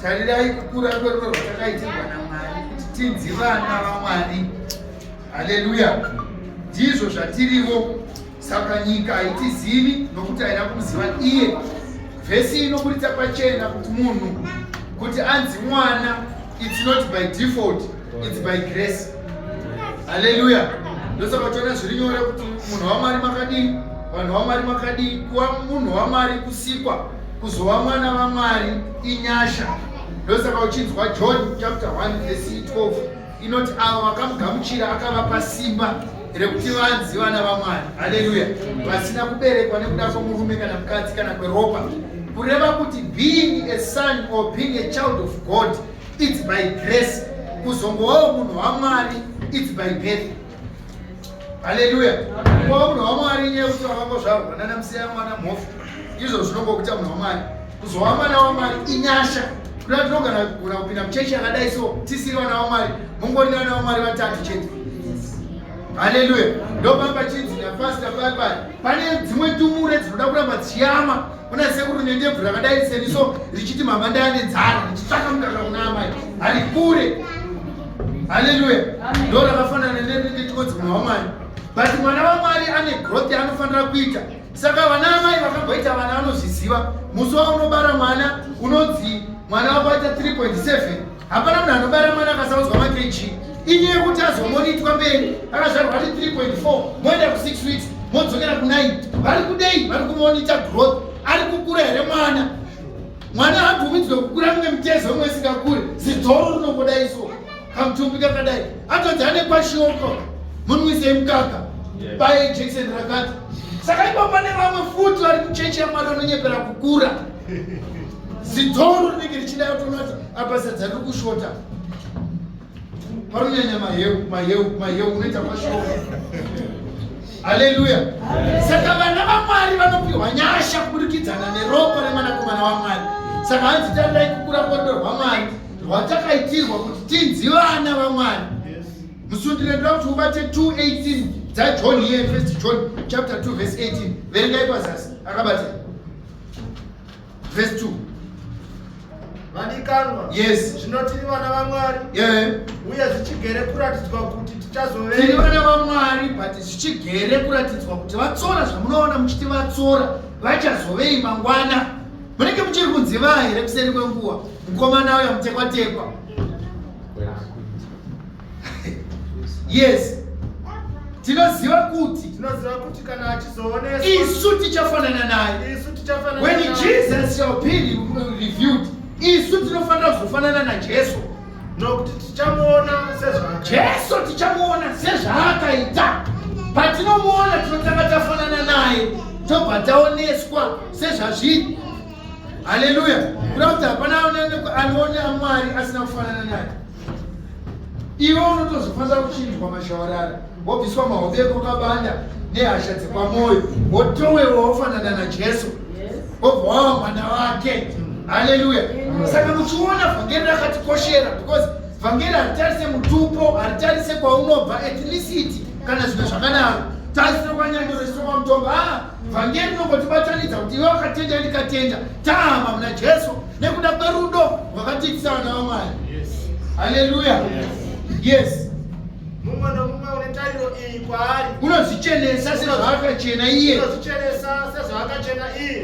tarirai kukura kwerudo rwatakaitirwa namwari kuti tinzi vana vamwari haleluya ndizvo zvatirivo saka nyika haitizivi nokuti haina kumuziva iye vhesi inoburitsa pachena kuti munhu kuti anzi mwana it's not by default It's by grace. Hallelujah. Ndosaka tiona zviri nyore kuti munhu waMwari makadii, vanhu waMwari makadii, kuva munhu waMwari kusikwa, kuzova mwana vaMwari inyasha. Ndosaka uchinzwa John chapter 1 verse 12 inoti avo vakamugamuchira akavapa simba rekuti vanzi vana vaMwari. Hallelujah. Vasina kuberekwa nekuda kwemurume kana mukadzi kana kweropa. Kureva kuti being a son or being a child of God It's by grace. Kuzongovawo munhu waMwari it's by birth. Hallelujah. Kuva munhu waMwari nyaya yekuti wakangozvarwa nana musiya mwana mhofu. Izvo zvinongokuita munhu waMwari. Kuzova mwana waMwari inyasha. Kuda tinogona kugona kupinda muchechi yakadai so tisiri vana waMwari. Mungori vana waMwari vatatu chete. Hallelujah. Ndopamba chinzi napasita pai pai pane dzimwe tumure dzinoda kuramba dzichiyama kuna sekuru nendebvu rakadai seniso richiti mama ndayane dzara richitsvaka mukaka kuna amai hari kure haleluya ndo rakafanana nendikonzi mwana wamwari but mwana wamwari ane growth yaanofanira kuita saka vana amai vakamboita vana vanozviziva musi waunobara mwana unonzi mwana wako aita 3.7 hapana munhu anobara mwana akasaudzwa makeji inye yekuti azomonitwa mberi akazvarwa ati 3.4 moenda ku 6 weeks modzokera ku 9 vari kudei vari kumonita growth ari kukura here mwana mwana haabvumidzwe kukura mumwe mitezo imwe isingakure zidzoro rinongoda iso kamutumbi kakadai atonzi ane kwashioko munwisei mukaka paye jekiseni rakati saka ipo pane vamwe futi vari kuchechi yamwana anonyepera kukura zidzoro rinenge richida yotonati apa sadza riri kushota panonyanya maheu maheu maheu unoita mashoko haleluya saka vana vamwari vanopiwa nyasha kuburikidzana neropa remwanakomana wamwari saka hanzi tandai kukura kodo rwamwari rwatakaitirwa kuti tinzi vana vamwari musundire ndoda kuti ubate 218 dzajohn here first john chapter 2 verse 18 verengai pazasi akabatira Verse 2. Vadikanwa. Yes. Zvino tiri vana vaMwari. Yeah. Uye zvichigere kuratidzwa kuti tichazove. Tiri vana vaMwari but zvichigere kuratidzwa kuti vatsora zvamunoona muchiti vatsora vachazovei mangwana. Munenge muchiri kunziva here kuseri kwenguva. Mukomana uya mutekwatekwa. yes tinoziva kuti tinoziva kuti kana achizooneswa isu tichafanana naye isu tichafanana when jesus shall be reviewed isu tinofanira kuzofanana najesu nokuti tichamuona sezvaakaita jesu tichamuona sezvaakaita patinomuona tinotanga tafanana naye tobva taoneswa sezvazviri haleluya kuda kuti hapana anoonekwa anoona mwari asina kufanana naye iwe unotozofanira kuchinjwa mashawarara wobviswa mahove ekwakabanda nehasha dzepamwoyo wotowewa wofanana najesu wobva wava mwana wake haleluya saka muchiona vhangeri rakatikoshera because vhangeri haritarise mutupo haritarise kwaunobva ethnicity kana zvimwe zvakanaro tarisiro kwanyandoro isiro kwamutongo a ah, vhangeri rinongotibatanidza kuti iwe wakatenda ndikatenda taama muna jesu nekuda kwerudo rwakatiitisa vana vamwari haleluya yes mumwe nomumwe une tariro iyi kwaari unozvichenesa sezvaakachena iye unozvichenesa sezvaakachena iye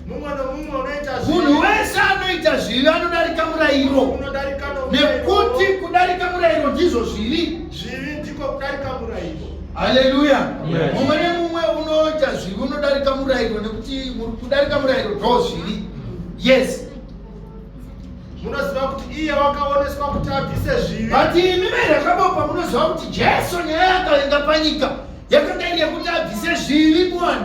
mumwe nomumwe unoita zvivi munhu wese anoita zvivi anodarika murayiro unodarika nomurayiro nekuti kudarika murayiro ndizvo zvivi zvivi ndiko kudarika murayiro haleluya Yes. mumwe nemumwe unoita zvivi unodarika murayiro nekuti mu- kudarika murayiro ndo zvivi yes munoziva kuti iye wakaoneswa kuti abvise zvivi but imi verakabopa munoziva kuti jesu nyaya yakavenga panyika yakanga iri yekuti abvise zvivi muvanhu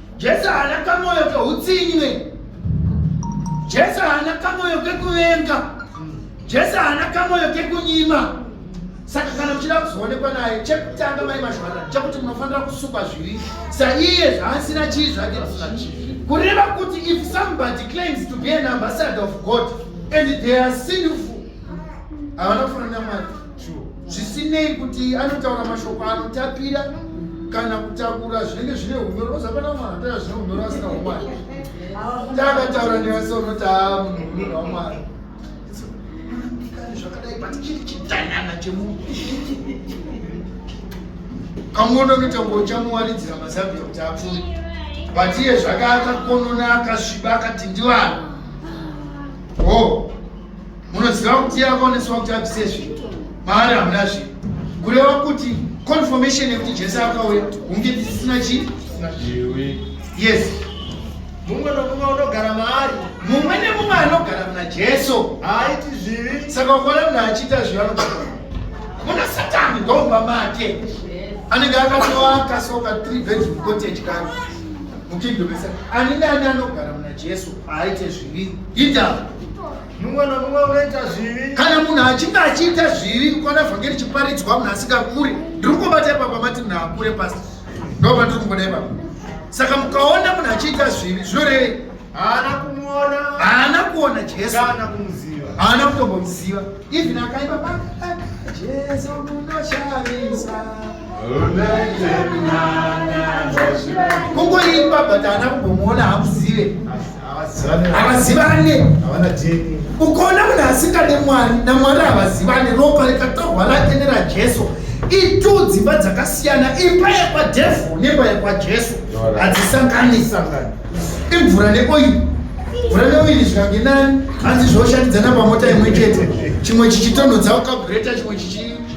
Jesu haana kamoyo keutsinye ne. Jesu haana kamoyo kekuvenga. Jesu haana kamoyo kekunyima. Saka kana muchida kuzoonekwa naye chekutanga mai mashwana chekuti munofanira kusukwa zvivi saiye zvaasina chii zvake kureva kuti if somebody claims to be an ambassador of God and they are sinful havana kufanana mwari zvisinei kuti anotaura mashoko anotapira kana kutakura zvinenge zvine unyoro ozapana mwana atoya zvine unyoro asina umwari taakataura nevasi unoti aa munhu munhu wamwari zvakadai but chiri chidanana chemunhu kamuono kuita ngo uchamuwaridzira mazabia kuti apfume but iye zvakaakakonona akasviba akati ndivanhu ho oh. munoziva kuti yakaoneswa kuti abvise zvinhu maari hamuna zvinhu kureva kuti confirmation yekuti jesu akauya hunge tisina chii yes mumwe nomumwe unogara maari mumwe nemumwe anogara muna jesu haaiti zvivi saka ukaona munhu achiita zvivi anogara muna satani ndomba make anenge akatoaka soka three bedroom cottage kani mukingdomesa ani nani anogara muna jesu aite zvivi ita mumwe nomumwe unoita zvivi kana munhu achinge achiita zvivi kwana vhange richiparidzwa munhu asingakure ndiri kungobata ipapa mati munhu akure pasi ndoba ndiri kungoda ipapa saka mukaona munhu achiita zvivi zvinorevei haana kumuona haana kuona jesu haana kumuziva haana kutombomuziva even akaipa pa jesu munoshavisa kungoimba but ana kumbomuona hamuzive havazivane ukaona munhu asingade mwari namwari havazivane ropa rikatorwa lake nerajesu itu dzimba dzakasiyana imba yekwadhevhu nemba yekwajesu hadzisangani sangani imvura neoiri mvura neoiri zvikange nani hanzi zvoshandidzana pamota imwe chete chimwe chichitonhodza ukagreta chimwe chichi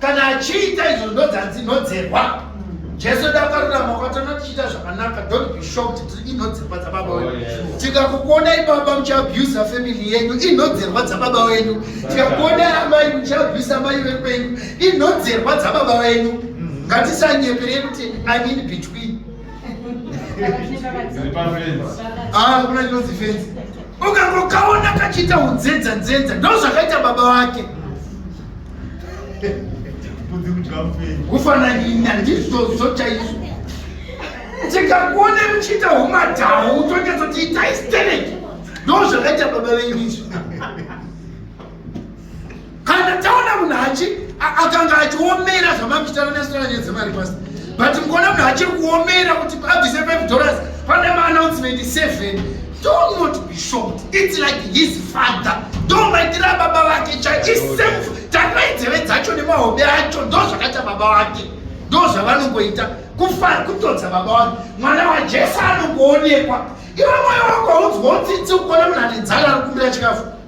kana achiita izvo ndodzadzinodzerwa jesu dakarurama kwatona tichiita zvakanaka don't be shocked kuti inodzerwa dzababa oh, wenyu tikakukuonai baba muchiabusa family yenyu inodzerwa dzababa wenyu tikakuonai amai muchiabusa amai vekwenyu inodzerwa dzababa wenyu mm. ngatisanyeperei kuti i mean between Ah, kuna chinonzi fenzi ukangokaona kachiita udzedza dzedza ndo zvakaita baba wake kufananina ndizvozvo chaizvo tikakuone muchiita umadhawu tonyatoti itai stereki ndo zvakaita baba venyu izvo kana taona munhu achi akanga achiomera zvamakuchitana nesitana nyaya dzemari pasi but mukuona munhu achiri kuomera kuti abvise 5 dollars pane maannouncement 7 do not be shocked its like his father ndomaitira baba vake chaisefu takai dzeve dzacho nemahobe acho ndo zvakaita baba vake ndo zvavanongoita kufara kutodza baba vake mwana wajesu anongoonekwa iwe mwoyo wako haunzwa utsitsi ukuona munhu ane dzana ari kumbira chikafu